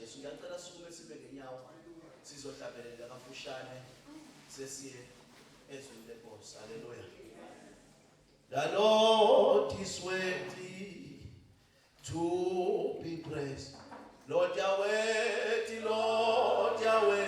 Jesu ngiyacela sukume sime ngenyawo sizohlabelela kafushane sesiye ezweni lenkosi haleluya The Lord is worthy to be praised. Lord Yahweh, Lord Yahweh.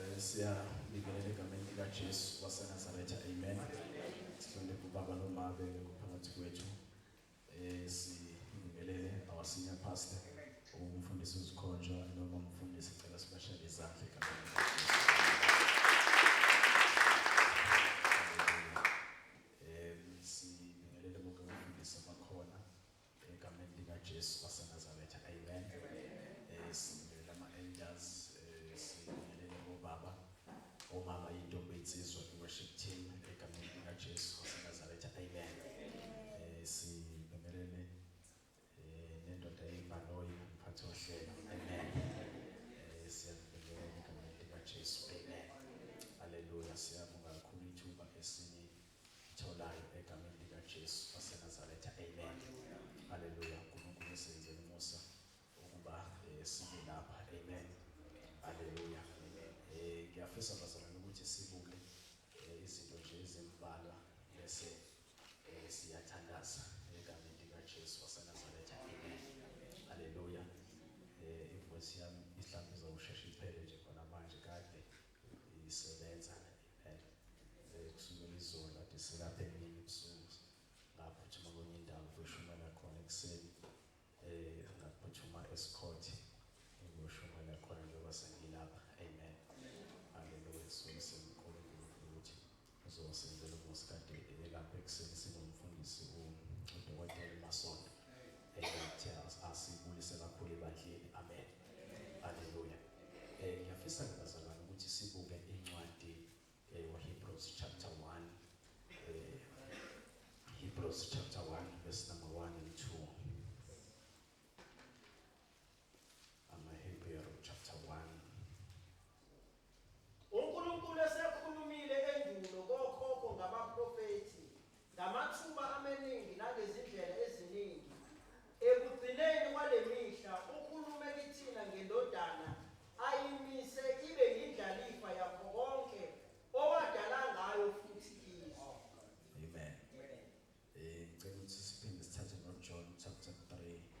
Eh, siyabingelela egameni likajesu wasenazaretha amen sihloniphe ubaba nomabe ngophakathi kwethu um sibingelele our senior pastor umfundisi uzikhonjwa noma umfundisi cela sibashale izandla egameni um sibingelele bonke abafundisi abakhona Egameni likaJesu waseNazaretha. Amen. Eh sibingelela ama elders, eh sibingelela obaba. Omama intombi insizwa worship team egameni likaJesu waseNazaretha. Amen. Eh sibingelele eh nendoda yebhaloyi umphathi wohlelo. Amen. Eh siyabingelela egameni likaJesu. Amen. Haleluya. Siyabonga kakhulu ithuba esini Ngitholayo egameni likaJesu waseNazaretha. Amen. Haleluya. uNkulunkulu usenzele umusa ukuba eh, sibe lapha. Amen. Haleluya. Amen. Eh ngiyafisa bazalwane ukuthi sibuke eh, izinto nje ezimbalwa bese eh, siyathandaza egameni likaJesu waseNazaretha. Amen. Haleluya. Eh ivoice yami ihlambiza usheshe iphele nje khona manje kade. isebenza ngempela eh, kusukela izolo ade silapha emini ebusuku ngaphuthuma kwenye indawo kuyoshumayela khona ekuseni eh ngaphuthuma esikhoti ngiyoshumayela khona njengoba sengilapha amen haleluya sibonise unkulunkulu ukuthi Uzosenzela unkosikazi ebelapha ekuseni sinomfundisi udokotela uMasondo eyathela asibulise kakhulu ebandleni amen haleluya eh ngiyafisa ngibazalwane ukuthi sibuke incwadi eh, Hebrews chapter 1 eh, Hebrews chapter 1 verse number 1 and 2 AmaHebheru chapter 1 UNkulunkulu esekhulumile endulo kokhokho ngabaprofethi ngamathuba amaningi nangezindlela eziningi. Ekugcineni kwale mihla ukhulume kithina ngeNdodana ayimise ibe yindlalifa yakho konke owadala ngayo futhi kizo. Amen. Eh, ngicela ukuthi siphinde sithathe noJohn chapter 3.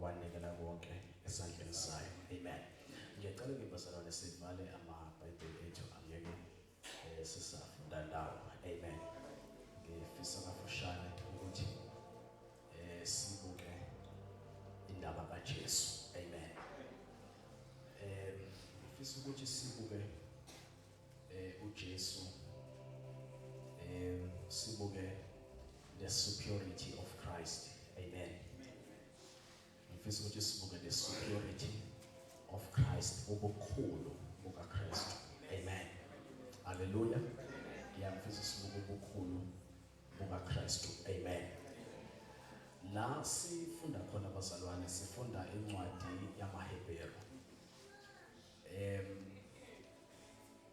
wanikela konke esandleni sayo amen ngiyacela ke bazalwane sivale amabhayibheli ethu angeke eh, sisafunda ndawo amen ngifisa kafushane ukuthi eh sibuke indaba kaJesu amen eh ngifisa ukuthi sibuke eh uJesu eh sibuke the superiority of Christ amen ngifisa ukuthi sibuke the superiority of Christ ubukhulu buka Christ amen haleluya ngiyafisa sibuke ubukhulu buka Christ amen la sifunda khona bazalwane sifunda incwadi yamaHebheru Em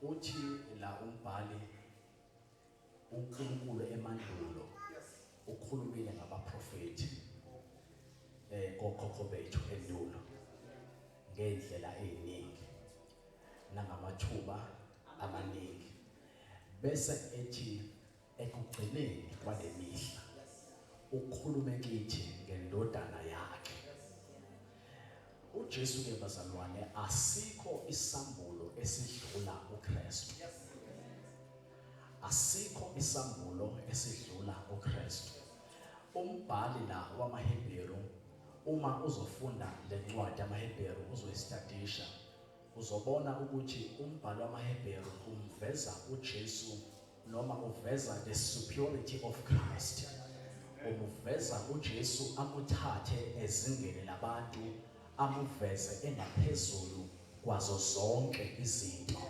uthi la umbhali uNkulunkulu emandulo ukhulumile ngabaprofethi eh kokhokho bethu endulo ngendlela eziningi nangamathuba amaningi bese ethi Ekugcineni kwale mihla ukhulume kithi ngendodana yakhe uJesu ke bazalwane asikho isambulo esidlula uKristu asikho isambulo esidlula uKristu umbhali la wamaHebheru uma uzofunda lencwadi yamaHebheru uzoyistadisha uzobona ukuthi umbhalo wamaHebheru umveza uJesu noma uveza the superiority of Christ umuveza uJesu amuthathe ezingeni labantu amuveze engaphezulu kwazo zonke izinto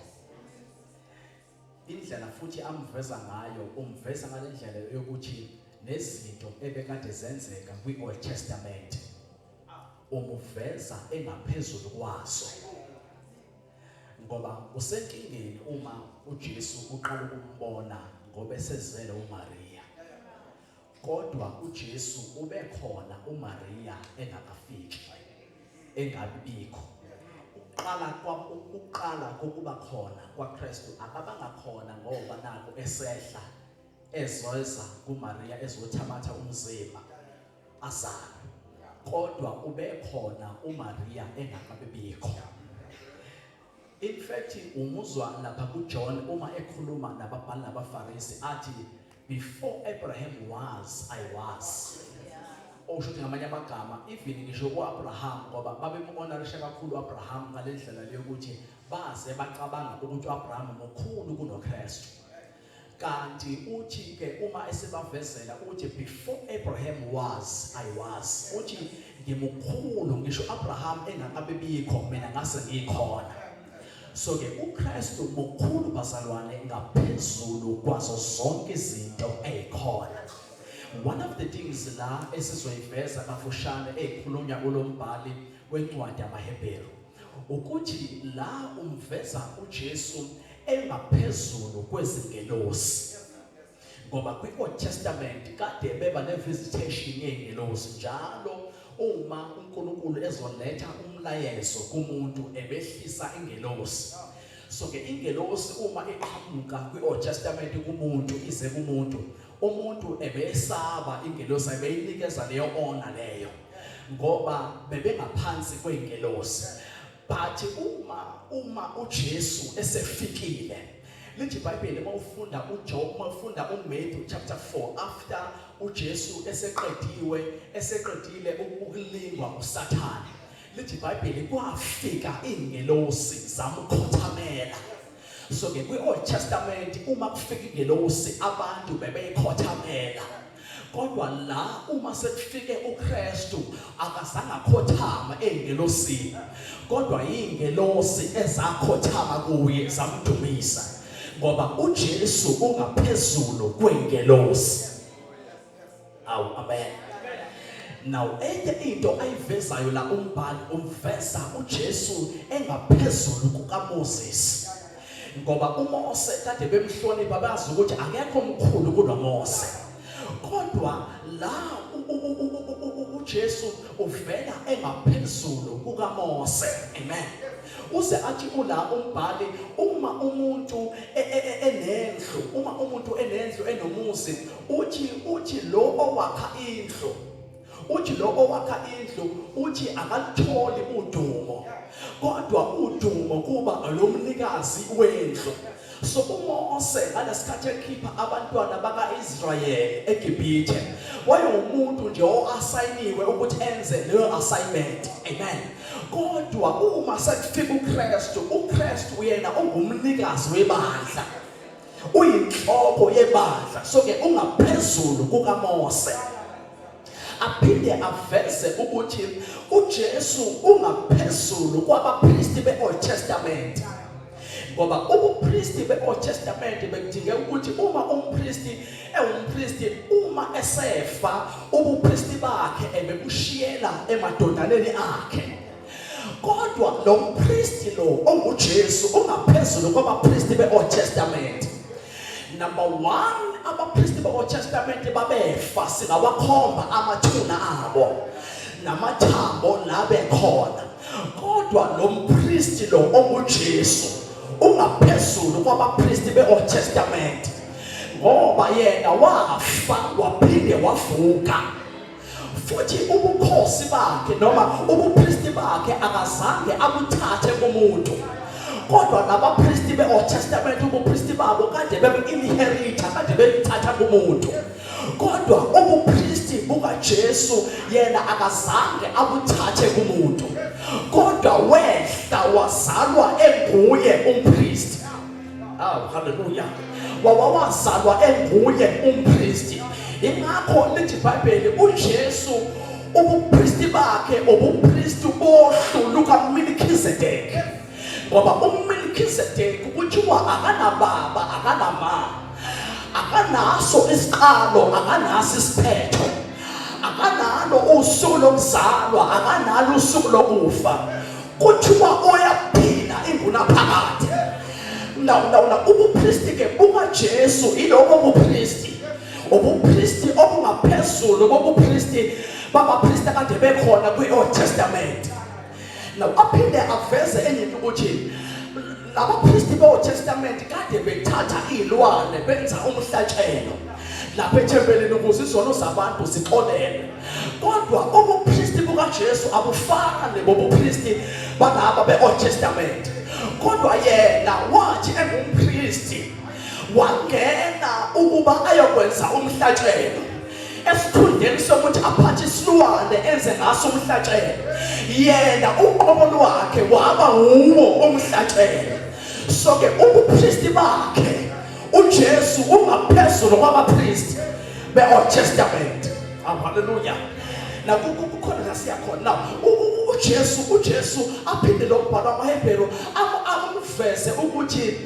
indlela futhi amuveza ngayo umveza ngale ndlela yokuthi nezinto ebekade zenzeka kwi-old testament umuveza engaphezulu kwazo ngoba usenkingeni uma uJesu uqala ukumbona ngoba esezele uMaria kodwa uJesu ubekhona uMaria engakafiki engabikho uqala kwakuqala kokuba khona kwaKristu akabanga khona ngoba naku esehla ezoza kuMaria ezothabatha umzimba azalwe kodwa ubekhona uMaria engakabibikho in fact umuzwa lapha kuJohn uma ekhuluma nababhali nabaFarisi athi before Abraham was I was osho ukuthi ngamanye amagama even ngisho uAbraham ngoba babemuhonorisha kakhulu uAbraham ngalendlela leyokuthi baze bacabanga ukuthi uAbraham mukhulu kunoKristu Kanti uthi ke uma esebavezela uthi before Abraham was I was uthi ngimukhulu ngisho Abraham engakabibikho mina ngase ngikhona so ke uKristu mukhulu bazalwane ngaphezulu kwazo zonke izinto ezikhona one of the things la esizoyiveza kafushane ezikhulunywa kulombhali wencwadi yamaHebheru ukuthi la umveza uJesu engaphezulu kwezingelosi ngoba kwi-old testament kade beba ne-visitation yey'ngelosi njalo uma unkulunkulu ezoletha umlayezo kumuntu ebehlisa ingelosi so-ke ingelosi uma iqhamuka kwi-old testament kumuntu ize kumuntu umuntu ebesaba ingelosi ayibeyinikeza leyo ona leyo ngoba bebengaphansi kweingelosi but uma uma uJesu esefikile lithi iBhayibheli uma ufunda uJob uma ufunda uMatthew chapter 4 after uJesu eseqediwe eseqedile ukulingwa uSathane lithi ibhayibheli kwafika iingelosi zamkhothamela so ke kwi-old testament uma kufika ingelosi abantu bebeyikhothamela kodwa la uma sekufike uKristu akazange akhothama engelosini kodwa ingelosi ezakhothama kuye zamdumisa ngoba uJesu ungaphezulu kwengelosi awu amen now enye into ayivezayo la umbhali umveza uJesu engaphezulu kukaMoses ngoba uMose kade bemhlonipha bazi ukuthi akekho omkhulu kunoMose kodwa la uJesu uvela engaphezulu kukaMose amen uze athi ula umbhali uma umuntu e, e, e, enendlu uma umuntu enendlu enomuzi uthi uthi lo owakha indlu uthi lo owakha indlu uthi akalitholi udumo kodwa udumo kuba lomnikazi wendlu so uMose ngalesikhathi ekhipha abantwana bakaIsrayeli eGibhithe wayewumuntu nje oasayiniwe ukuthi enze leyo assignment amen kodwa uma sekufika uKristu uKristu uyena ongumnikazi webandla uyinhloko yebandla so ke ungaphezulu kukaMose aphinde aveze ukuthi uJesu ungaphezulu kwabapristi beOld Testament ngoba ubupristi beOld Testament bekudinge ukuthi uma umpristi ewumpristi uma esefa ubupristi bakhe ebebushiyela emadodaneni akhe Kodwa lo mpristi lo onguJesu ungaphezulu kwabapristi be-Old Testament. Number 1 abapristi be-Old Testament babefa singawakhomba amathuna abo namathambo labe khona. Kodwa lo mpristi lo onguJesu ungaphezulu kwabapristi be-Old Testament ngoba yena wafa waphinde wavuka. futhi ubukhosi bakhe noma ubupristi bakhe akazange abuthathe kumuntu kodwa nabapristi be-old testament ubupristi babo kade bebu-inheritha kade bebuthatha kumuntu kodwa ubupristi bukajesu yena akazange abuthathe kumuntu kodwa wehla wazalwa enguye umpristi aw haleluya wawawazalwa enguye umpristi ingakho lithi ibhayibheli ujesu ubupristi bakhe ubupristi bohlu lukamilkizedeki ngoba umilkizedeki kuthiwa akanababa akanama akanaso isiqalo akanaso isiphetho akanalo usuku lokuzalwa akanalo usuku lokufa kuthiwa oyaphila ingunaphakade ndawundawula ubupristi ke bukajesu iloko bupristi ubupristi obungaphezulu bobupristi babapristi akade bekhona kwi-old testament now aphinde aveze enye into ukuthi Labaphristi boTestament kade bethatha izilwane benza umhlatshelo lapha ethempelini ukuze izono zabantu zixolelwe. Kodwa ubuphristi bukaJesu abufani bobuphristi balaba beOld Testament. Kodwa yena wathi engumphristi wangena ukuba ayokwenza umhlatshelo esikhundleni sokuthi aphathe isilwane enze ngaso umhlatshelo yena uqobo lwakhe waba wuwo umhlatshelo so-ke ubupristi bakhe ujesu ungaphezulu kwabapristi be-old testament haleluya nakukhona la siyakhona na ujesu ujesu aphinde lo mbhalo amahebhero amuveze ukuthi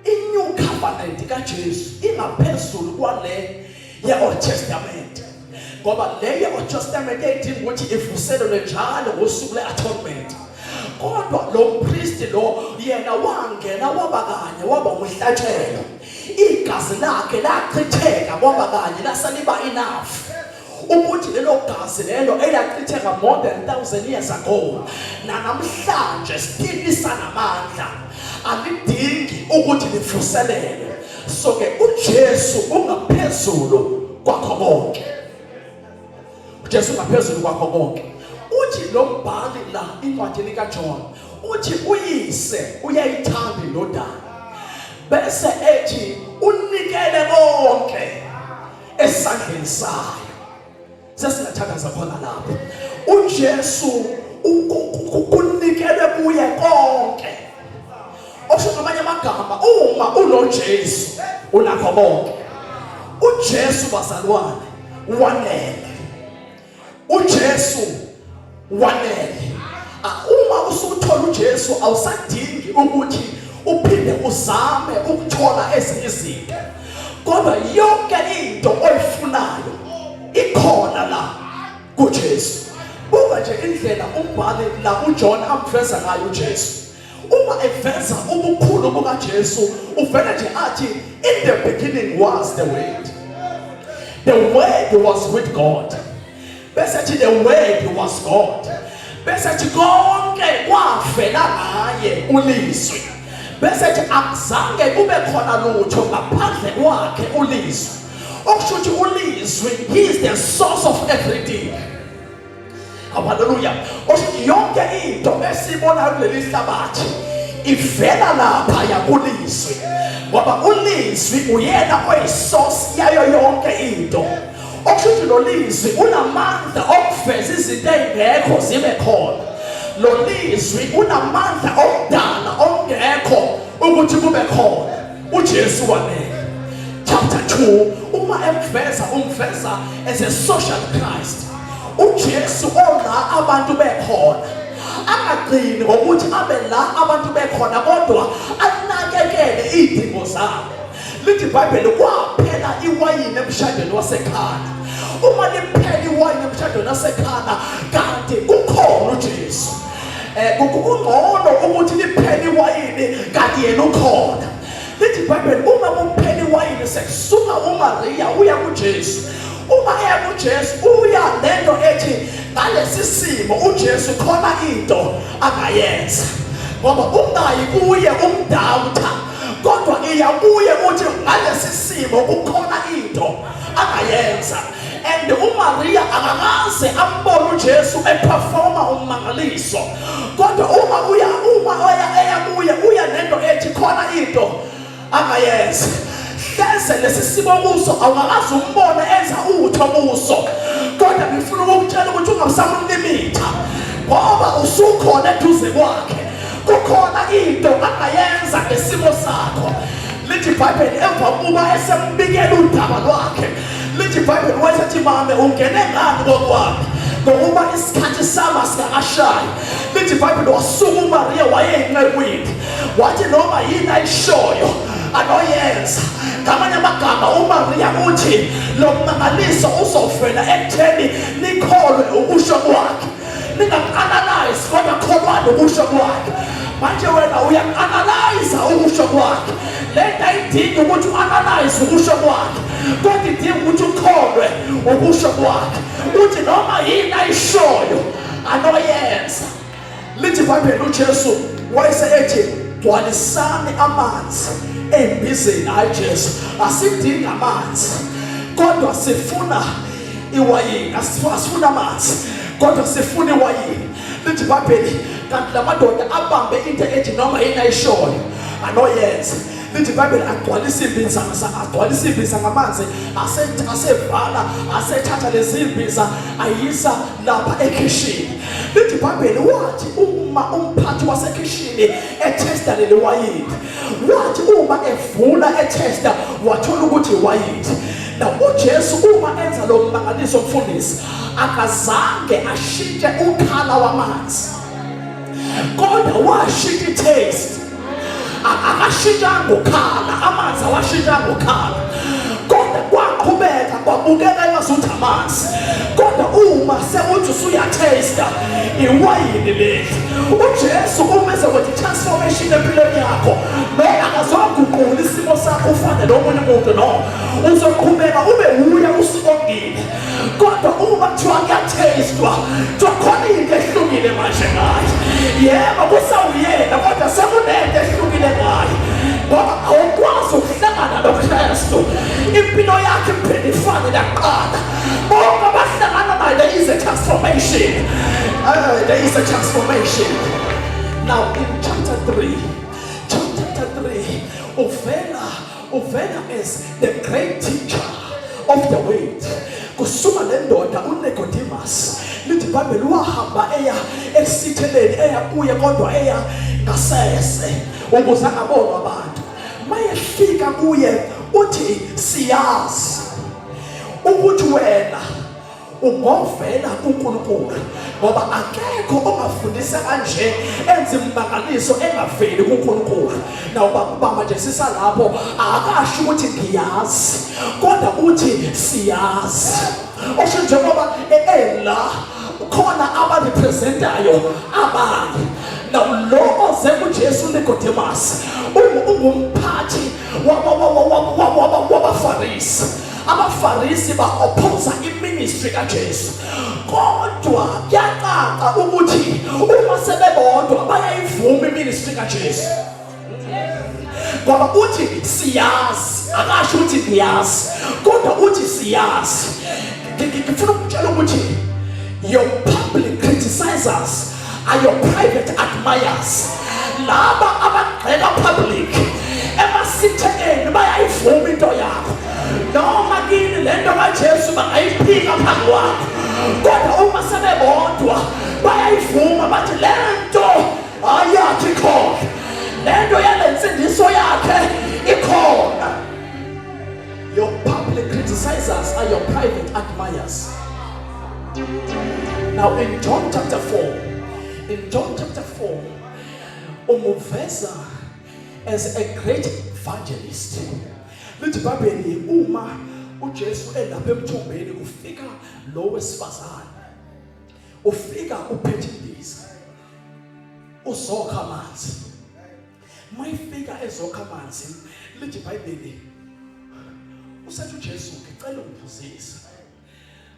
I-new covenant kaJesu ingaphezulu kwale ye-Old Testament ngoba le ye-Old Testament yayidinga ukuthi ivuselelwe njalo ngosuku le-atonement kodwa lo mpristi lo yena wangena waba kanye waba umhlatshelo igazi lakhe lachitheka kwaba kanye lasaliba enough ukuthi lelo gazi lelo elachitheka more than 1000 years ago nanamhlanje still lisanamandla alidingi ukuthi livuselele so ke uJesu ungaphezulu kwakho konke uJesu ungaphezulu kwakho konke uthi lo mbhali la incwadi lika John uthi uyise uyayithanda indodana bese ethi unikele konke esandleni sayo sesingathandaza khona lapho uJesu ukunikele kuye konke osho ngamanye amagama uma unoJesu unakho konke uJesu bazalwane wanele uJesu wanele ah, uma usuthola uJesu awusadingi ukuthi uphinde uzame ukuthola ezinye izinto kodwa yonke into oyifunayo ikhona la kuJesu buka nje indlela umbhali la uJohn amveza ngayo uJesu uma eveza ubukhulu bukaJesu uvele nje athi in the beginning was the word the word was with God bese athi the word was God bese athi konke kwavela ngaye ulizwi bese athi akuzange kube khona lutho ngaphandle kwakhe ulizwi okusho ukuthi ulizwi he is the source of everything Hallelujah. Othi yonke into esiyibonayo kuleli hlabathi ivela lapha yakulizwi. Ngoba ulizwi uyena oyisource yayo yonke into. Okusho lo lizwi unamandla okuveza izinto ezingekho zibe khona. Lo lizwi unamandla okudala okungekho ukuthi kube khona. uJesu wanele chapter 2 uma emveza umveza as a social Christ uJesu ora abantu bekhona angagcini ngokuthi abe la abantu bekhona kodwa anakekele izidingo zabo lithi iBhayibheli kwaphela iwayini emshadweni wasekhana uma liphela iwayini emshadweni wasekhana kanti kukhona uJesu Eh, kungcono ukuthi liphele iwayini kanti yena ukhona lithi ibhayibheli uma kuphela iwayini sekusuka umariya uya kujesu uma eya kujesu uya nento ethi ngalesi simo ujesu khona into angayenza ngoba ungayi kuye umdawutha kodwa iya kuye ukuthi ngalesi simo kukhona into angayenza and uMaria akakaze ambone uJesu eperforma ummangaliso kodwa uma uya uma oya eya kuye uya nento ethi khona into angayenza hleze lesi simo kuso awungakaze umbone enza utho kuso kodwa ngifuna ukukutshela ukuthi ungasamlimitha ngoba usukhona eduze kwakhe kukhona into angayenza ngesimo sakho lithi ibhayibheli emva kokuba esembikela udaba lwakhe lithi ibhayibheli wayesathi mame ungene ngani kokwami ngokuba isikhathi sama sikakashayi lithi ibhayibheli wasuka umariya wayeyincekwini wathi noma yini ayishoyo anoyenza ngamanye amagama umariya uthi lo mmangaliso uzovela ekutheni nikholwe ukusho kwakhe ningamu-analyze kodwa kholwani ukusho kwakhe manje wena uyamu-analyza ukusho kwakhe le nto ayidingi ukuthi u-analyze ukusho kwakhe kodwa idinga ukuthi ukholwe ukusho kwakhe uthi noma yini ayishoyo anoyenza lithi ibhayibheli ujesu wayese ethi gcwalisani amanzi embizeni hayi jesu asidingi amanzi kodwa sifuna iwayini asifuna amanzi kodwa sifuna iwayini lithi ibhayibheli kanti la madoda abambe into ethi noma yini ayishoyo anoyenze lithi ibhayibheli agcwala isimbiza agcwala isimbiza ngamanzi asevala asethatha lezimbiza ayisa lapha ekhishini lithi ibhayibheli wathi uma umphathi wasekhishini ethesta leli wayini wathi uma evula ethesta wathola ukuthi wayithi na uJesu uma enza lo mbangaliso mfundisi akazange ashintshe ukhala wamanzi kodwa washintsha itaste akashintshanga ukhala amanzi awashintshanga ukhala kodwa kwaqhubeka kwabukeka engazuthi amanzi kodwa uma sekuthi usuyatesta iwayini leli ujesu uma ezokuthi transformation empilweni yakho noma akazoguqula isimo sakho ufane nomunye umuntu no uzoqhubeka ube wuya usikongile kodwa uma kuthiwa kuyathestwa kuthiwa khona into ehlukile manje ngayo yebo kusawuyena kodwa sekunento ehlukile ngayo ngoba awukwazi ukuhlangana nokristu impilo yakhe iphinde ifane nakuqala bonke abahlangana naye there is a transformation uh, there is a transformation now in chapter 3 chapter 3 uvela uvela as the great teacher of the world kusuma lendoda uNicodemus lithi ibhayibheli wahamba eya esitheleni eya kuye kodwa eya ngasese ukuze angabonwa abantu mayefika kuye uthi siyazi ukuthi wena ugovela uNkulunkulu ngoba akekho ongafundisa kanje enze imbangaliso engaveli kuNkulunkulu nawuba kuba manje sisalapho akasho ukuthi ngiyazi kodwa uthi siyazi osho njengoba ela khona abarepresentayo abanye naloko sekujesu nikodemasi ungumphathi wabafarisi abafarisi ba-ophosa iministry kajesu kodwa kuyacaca ukuthi uma sebebodwa bayayivuma iministry kajesu ngoba uthi siyazi akasho ukuthi ngiyazi kodwa uthi siyazi ngifuna ukutshela ukuthi your public criticizers are your private admirers laba abagxeka public emasithekeni bayayivuma into yakho noma kini le nto kajesu bangayiphika phambi kwakho kodwa uma sebebodwa bayayivuma bathi le nto ayakhe ikhona le nto yale nsindiso yakhe ikhona your public criticizers are your private admirers Now in John chapter 4, in John chapter 4, umuveza as a great evangelist. Lithi iBhayibheli uma uJesu elapha emthombeni kufika lo wesifazane. Ufika uphethe indiza. Uzokha amanzi. Mayifika ezokha amanzi, lithi iBhayibheli usethi uJesu ngicela ungiphuzise.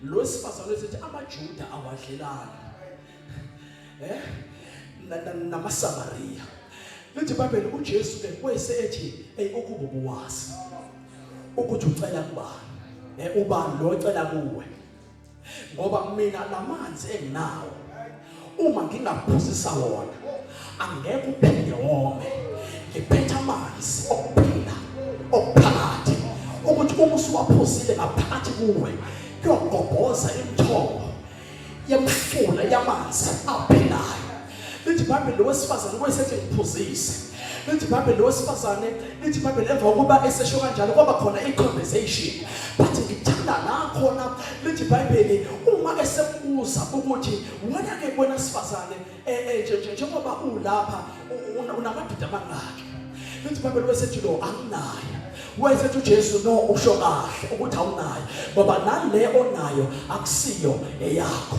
lo sifazane esithi amaJuda awadlelani eh namaSamariya lithi iBhayibheli uJesu ke kwese ethi hey ukuba ubuwazi ukuthi ucela kubani eh ubani lo ocela kuwe ngoba mina lamanzi enginawo uma ngingaphuzisa wona angeke uphinde wome ngiphetha amanzi okuphila okuphakathi ukuthi uma usuwaphuzile ngaphakathi kuwe kuyogobhoza imithombo yemfula yamanzi aphilayo lithi ibhayibheli lowesifazane wayesethi ngiphuzise lithi ibhayibheli lo wesifazane lithi ibhayibheli emva kokuba esesho kanjalo kwaba khona i-conversation but ngithanda la khona lithi ibhayibheli uma esembuza ukuthi wena-ke kwena sifazane eh, eh, njengoba ulapha unamadoda amangaki lithi ibhayibheli wesethi lo anginayo wayesethi uJesu no usho kahle ukuthi awunayo ngoba nale onayo akusiyo eyakho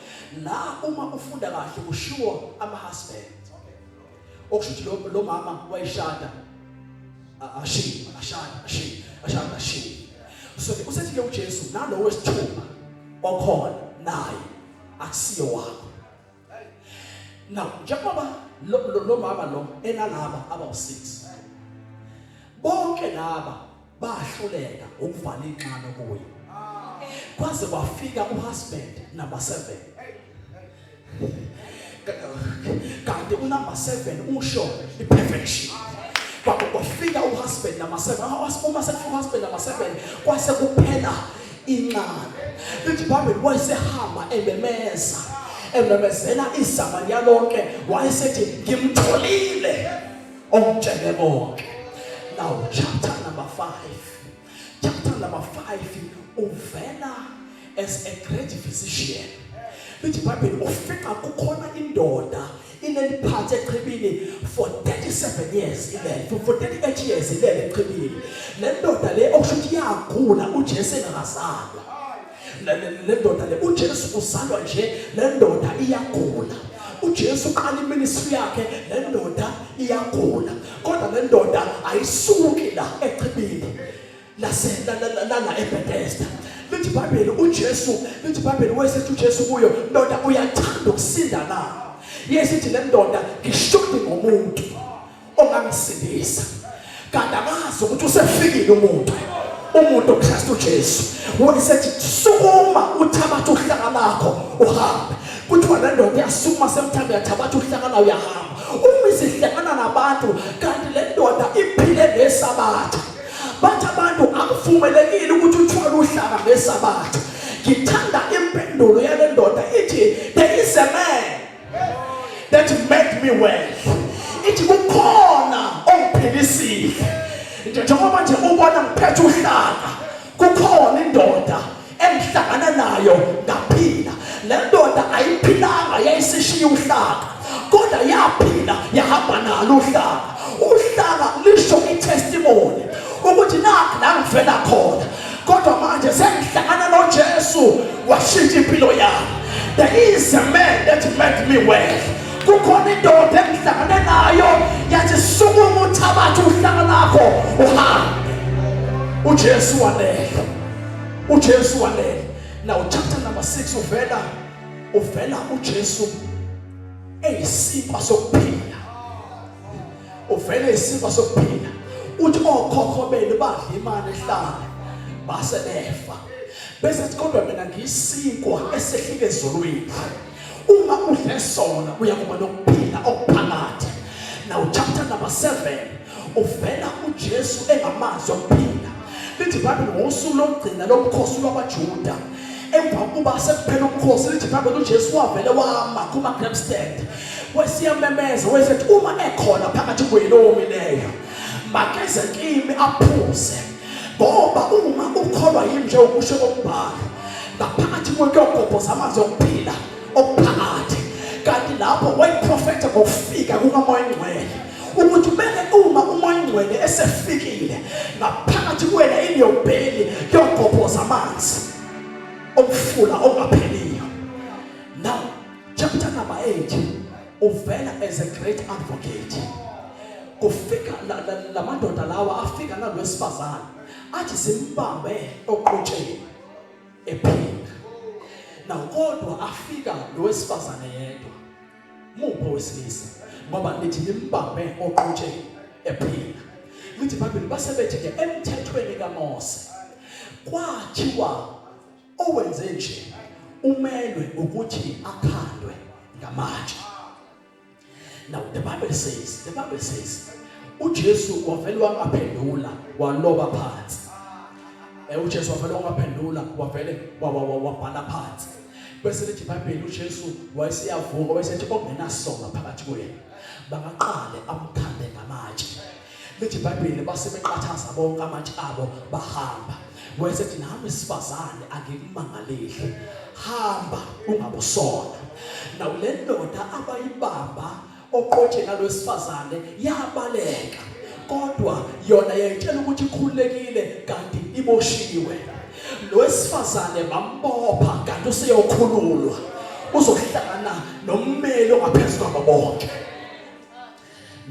la uma ufunda kahle kushiwo ama husband okusho ukuthi lo lo mama wayishada ashiyi ashada ashiyi ashada ashiyi so usethi ke uJesu nalowo wesithupha okhona naye akusiyo wakho now njengoba lo lo mama lo enalaba aba u6 bonke laba bahluleka ukuvala inxano kuye kwaze kwafika uhusband number 7 kanti unumber 7 usho iperfection kwafika uhusband number 7 uma sekufika uhusband number 7 kwase kuphela inxano lithi ibhayibheli wayesehamba ememeza ememezela isamariya lonke wayesethi ngimtholile Ongitshele konke. Now chapter number 5. Chapter number 5 uvela as a great physician. Lithi iBhayibheli ufika kukhona indoda ineliphathi echibini for 37 years ilele for 38 years ilele echibini. Le ndoda le okusho ukuthi yagula uJesu engakazalwa. le ndoda le uJesu uzalwa nje le ndoda iyagula uJesu uqala iministry yakhe le ndoda iyagula kodwa le ndoda ayisuki la echibini lase lana eBethesda lithi iBhayibheli uJesu lithi iBhayibheli wayesethi uJesu kuyo ndoda uyathanda ukusinda na yesithi le ndoda ngishudi ngomuntu ongangisindisa kanti amazi ukuthi usefikile umuntu umuntu uKristu Jesu wayesethi sukuma uthabathe uhlaka lakho uhambe kuthiwa le ndoda iyasukuma semthambi yathabatha uhlaka layo uyahamba uma isihlangana nabantu kanti le ndoda iphile ngesabatha bathi abantu akuvumelekile ukuthi uthwale uhlaka ngesabatha ngithanda impendulo yale ndoda ithi there is a man that made me well ithi kukhona ongiphilisile nje njengoba nje ubona ngiphethe uhlaka kukhona indoda engihlangana nayo ngaphila le ndoda ayiphilanga yayisishiya uhlaka kodwa yaphila yahamba nalo uhlaka uhlaka lisho itestimony ukuthi nakho la ngivela khona kodwa manje sengihlangana noJesu washintsha impilo yami there is a man that made me well kukhona indoda engihlangane nayo yathi sukuma uthabathe uhlanga lakho uhambe uJesu wanele uJesu wanele now chapter number 6 uvela uvela uJesu eyisikwa sokuphila uvele isifo sokuphila uthi okhokho benu badla imali ehlala base befa bese kodwa mina ngiyisikwa esehlike ezulwini uma udle sona uyakuba nokuphila okuphakathi now chapter number 7 uvela uJesu engamazi okuphila lithi ibhayibheli ngosuku lokugcina lobukhosi lwabajuda emva kokuba sekuphela ubukhosi lithi ibhayibheli ujesu wavele wama kuma-grab stand wesiyamemeza wesethi uma ekhona phakathi kwenu owomileyo makeze kimi aphuze ngoba uma ukholwa yimi nje ukusho kombhalo ngaphakathi kwento yogobhoza amanzi okuphila okuphakathi kanti lapho wayiprofetha ngokufika kukamoya ingcwele ukuthi kumele uma umoya ongcwele esefikile ngaphakathi kuwena iniyobheli yogobhoza amanzi omfula ongapheliyo now chapter number 8 uvela as a great advocate kufika lamadoda lawa afika nalwesifazane athi simbambe oqotsheni ephinda nakodwa afika lowesifazane yedwa muphi owesilisa ngoba nithi nimbambe oqotsheni ephila lithi ibhayibheli base bethi ke emthethweni kamose kwathiwa owenze nje umelwe ukuthi akhandwe ngamatshe now the bible says the bible says uJesu wavele wangaphendula waloba phansi eh uJesu wavele wangaphendula wavele wabhala phansi bese lithi iBhayibheli uJesu wayeseyavuka wayesethi ongenasonga phakathi kwenu bangaqale amkhande ngamatshe lithi iBhayibheli base beqathaza bonke amatshe abo bahamba wayesethi nami sifazane angikumangaleli hamba ungabusona nawu lendoda abayibamba oqotsheni alwesifazane yabaleka kodwa yona yayitshela ukuthi ikhululekile kanti iboshiwe lo wesifazane bambopha kanti useyokhululwa uzohlangana nommeli ongaphezu kwabo bonke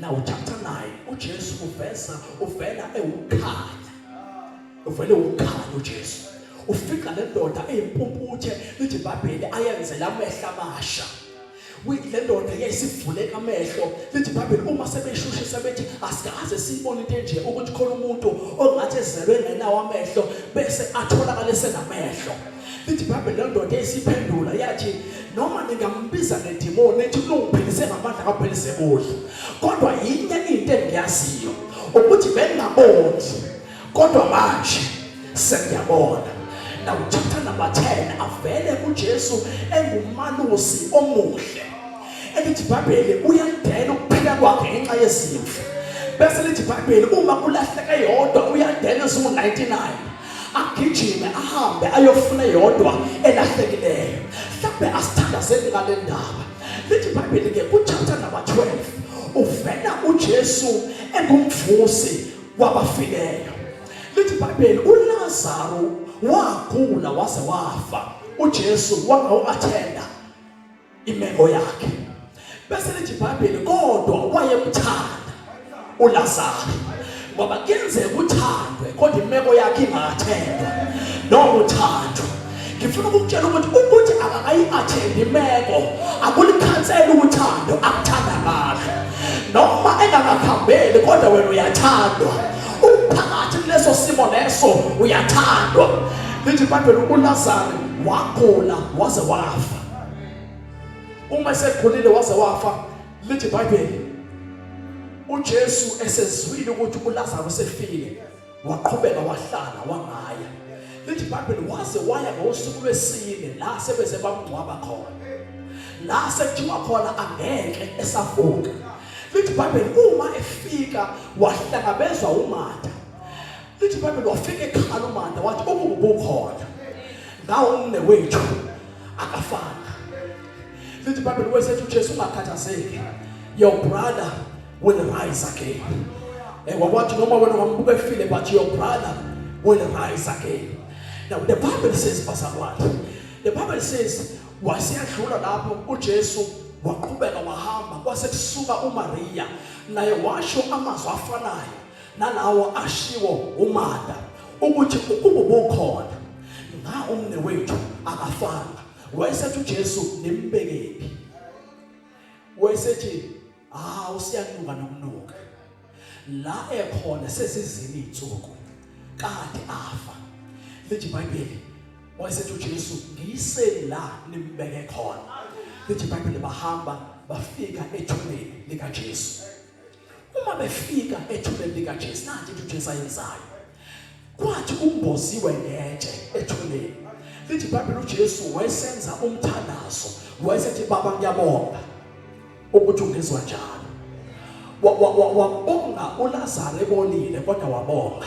now chapter 9 uJesu uveza uvela ewukhanya uvele ukhanya uJesu ufika lendoda eyimpumputhe lithi iBhayibheli ayenzela amehla amasha le ndoda yayisivuleka amehlo lithi ibhayibheli uma sebeshushisa bethi asikaze siyibone into enje ukuthi khona umuntu ongathi ezelwe engenawo amehlo bese atholakale senamehlo lithi ibhayibheli le ndoda yayisiphendula yathi noma ningambiza ngedimoni ethi kulungiphilise ngamandla kaphelise kuhle kodwa yinye into engiyaziyo ukuthi bengingabondli Kodwa manje sengiyabona na chapter number 10 avele uJesu engumalusi omuhle elithi iBhayibheli uyadela ukuphila kwakhe ngenxa yezimvu bese lithi iBhayibheli uma kulahleke yodwa uyadela eziwu-99 agijime ahambe ayofuna yodwa elahlekileyo mhlawumbe asithandazeli ngale ndaba lithi iBhayibheli-ke kuchapter number 12 uvela uJesu engumvusi kwabafileyo lithi ibhayibheli ulazaro wagula waze wafa ujesu wangawu-athenda imeko yakhe bese lithi ibhayibheli kodwa wayemthanda ulazaro ngoba kuyenzeka uthandwe kodwa imeko yakhe ingathendwa noma uthandwe ngifuna ukukutshela ukuthi ukuthi akakayi-athendi imeko akulikhansela uthando akuthanda kahle noma engakakhambeli kodwa wena uyathandwa uphakathi kuleso simo leso uyathandwa lithi ibhayibheli ulazaro wagula waze wafa uma esekhulile waze wafa lithi ibhayibheli ujesu esezwile ukuthi ulazaro sefile waqhubeka wahlala wangaya lithi ibhayibheli waze waya ngosuku lwesine la sebeze bamngcwaba khona la sekuthiwa khona angeke esavuka lithi ibhayibheli uma efika wahlangabezwa umatha lithi ibhayibheli wafika ekhala umatha wathi ubungubukhona ngawo umne wethu akafana lithi ibhayibheli wesethu ujesu ungakhathazeki your brother will rise again and wakwathi noma wena ungambuka efile but your brother will rise again now the bible says bazalwane the bible says waseyadlula lapho uJesu waqhubeka wahamba kwase kusuka uMaria naye washo amazwi afanayo nalawo ashiwo uMatha ukuthi ukuba ubukhona nga umne wethu akafanga wayesethi uJesu nimbekephi wayesethi ah usiyanuka nokunuka la ekhona sesizini insuku kade afa lithi iBhayibheli wayesethi uJesu ngiyiseni la nimbeke khona lithi iBhayibheli bahamba bafika ethuneni likaJesu uma befika ethuneni likaJesu nathi uJesu ayenzayo kwathi kumboziwe ngetshe ethuneni lithi ibhayibheli ujesu wayesenza umthandazo wayesethi baba ngiyabonga ukuthi ungizwa njalo wabonga ulazaro ebonile kodwa wabonga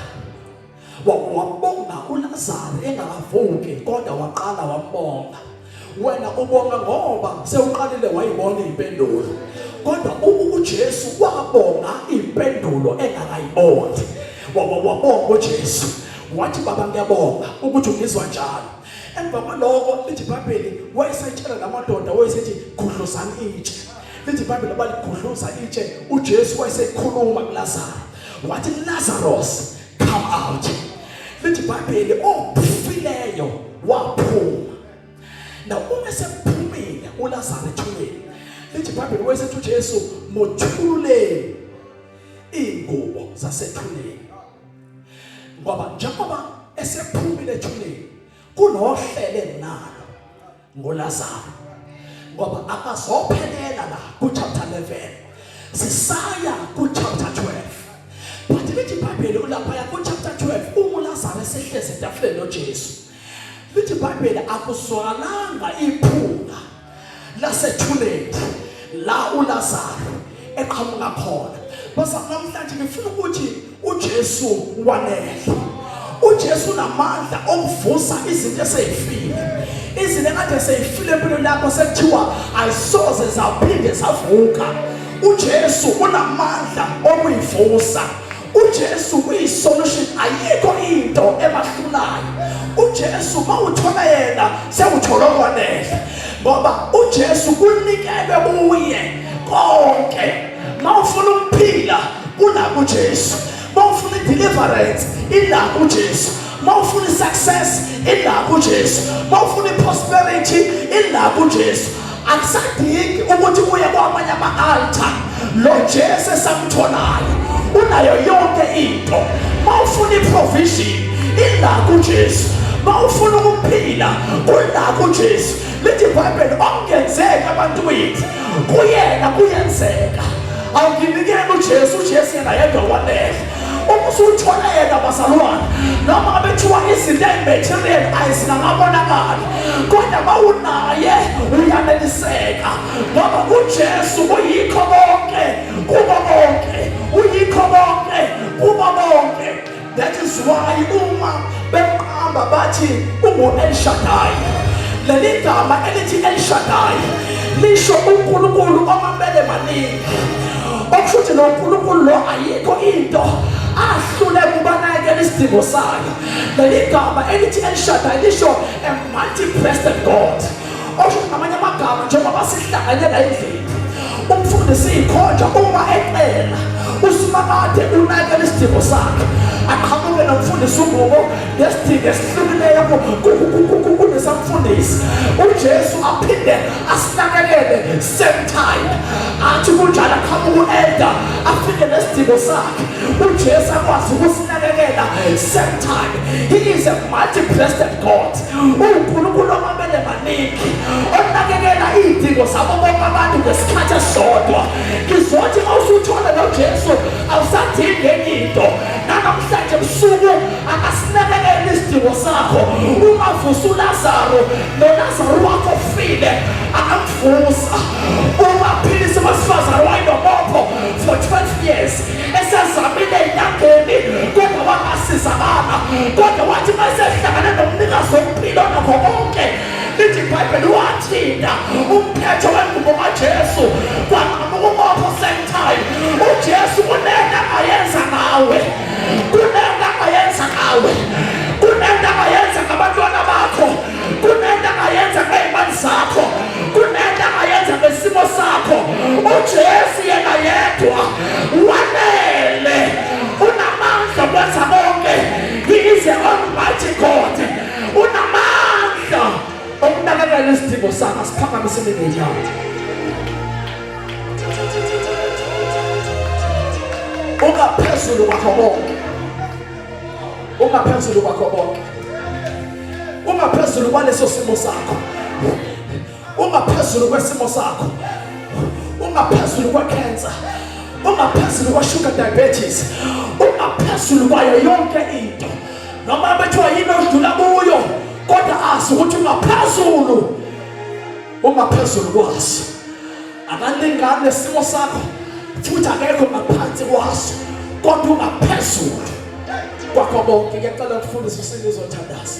wabonga ulazaro engakavuki kodwa waqala wabonga wena ubonga ngoba sewuqalile wayibona impendulo kodwa uJesu wabonga impendulo engakayiboni wabonga uJesu wathi baba ngiyabonga ukuthi ungizwa njalo emva kwaloko lithi ibhayibheli wayesayitshela la madoda wayesethi gudluzani itshe lithi ibhayibheli abaligudluza itshe ujesu wayesekhuluma kulazaro wathi lazaros come out lithi ibhayibheli ofileyo waphuma na uma sephumile uLazaro ethuneni lithi ibhayibheli wayesethi uJesu mothululeni ingubo zasethuneni ngoba njengoba esephumile ethuneni kunohlele nalo ngoLazaro ngoba akazophelela la ku chapter 11 sisaya ku chapter 12 but lithi ibhayibheli ulapha ya ku chapter 12 uma uLazaro esehlezi etafuleni noJesu lithi ibhayibheli akuzwalanga iphunga lasethuleni la uLazaro eqhamuka khona basa namhlanje ngifuna ukuthi uJesu wanele uJesu namandla okuvusa izinto eseyifile izinto ekade seyifile empilweni lakho sekuthiwa ayisoze zaphinde zavuka uJesu unamandla okuyivusa uJesu uyi solution ayikho into ebahlulayo uJesu mawuthola yena sewuthola okwanele ngoba uJesu kunikelwe kuye konke mawufuna ukuphila kuna kuJesu mawufuna deliverance ila kuJesu mawufuna success ila kuJesu mawufuna prosperity ila kuJesu akusadingi ukuthi kuye kwamanye ama-altar lo jesu esamtholayo unayo yonke into ma ufuna iprovision ila kujesu ma ufuna ukuphila kula kujesu lithi ibhayibheli okungenzeka abantu bethu kuyena kuyenzeka awukinikeni ujesu ujesu yena yedwa wanele uma usuthole yena bazalwane noma abethiwa izinto ezimaterial ayizingakabonakali kodwa bawunaye uyaneliseka ngoba ujesu uyikho konke kubo bonke uyikho konke kubo bonke that is why uma beqamba bathi ungu-elshadai leli gama elithi elshadai lisho unkulunkulu omabele maningi okusho ukuthi nonkulunkulu lo ayikho into ahlule kubanakekela isidingo sayo leli gama elithi elishadayo lisho a multi-breasted god okusho ukuthi ngamanye amagama njengoba sihlanganyela endlini umfundisi ikhonja uma ecela usimakade unakela isidingo sakhe aqhamuke nomfundisi ungubo ngesidingo esihlukileyo kunesamfundisi ujesu aphinde asinakekele same time athi kunjalo aqhamuka u-elda afike nesidingo sakhe ujesu akwazi ukusinakekela same time he is a multi-breasted god uwunkulunkulu omamele maningi onakekela iy'dingo zabo bonke abantu ngesikhathi esisodwa ngizothi uma usuthole nojesu awusadingi enye into nanamhlanje busuku akasinakekela isidingo sakho uma vusa ulazaro nolazaro wakho file Fusa ungaphilisa abesifazane wayinobopho for 12 years esezamile enyangeni kodwa wangasizakala kodwa wathi uma esehlangane nomnikazi wompilo nakho konke lithi ibhayibheli wathinta umphetho wengubo kajesu kwanqamuka umopho same time ujesu kunento angayenza ngawe kunento angayenza ngawe kunento angayenza ngabantwana bakho kunento angayenza ngey'mali zakho kunento angayenza ngesimo sakho ujesu yena yedwa wanele unamandla okwenza konke he is a almighty god unamandla okunakekela isidingo sakho asiphakamise imingenyawo ungaphezulu kwakho konke ungaphezulu kwakho konke ungaphezulu kwaleso simo sakho ungaphezulu kwesimo sakho ungaphezulu kwecancer ungaphezulu kwashuga diabetes ungaphezulu kwayo yonke into noma bethiwa yini odlula kuyo kodwa azi ukuthi ungaphezulu ungaphezulu kwaso akaningani nesimo sakho futhi akekho ngaphansi kwaso kodwa ungaphezulu kwakho bonke ngiyacela ukufundisa usinizothandaza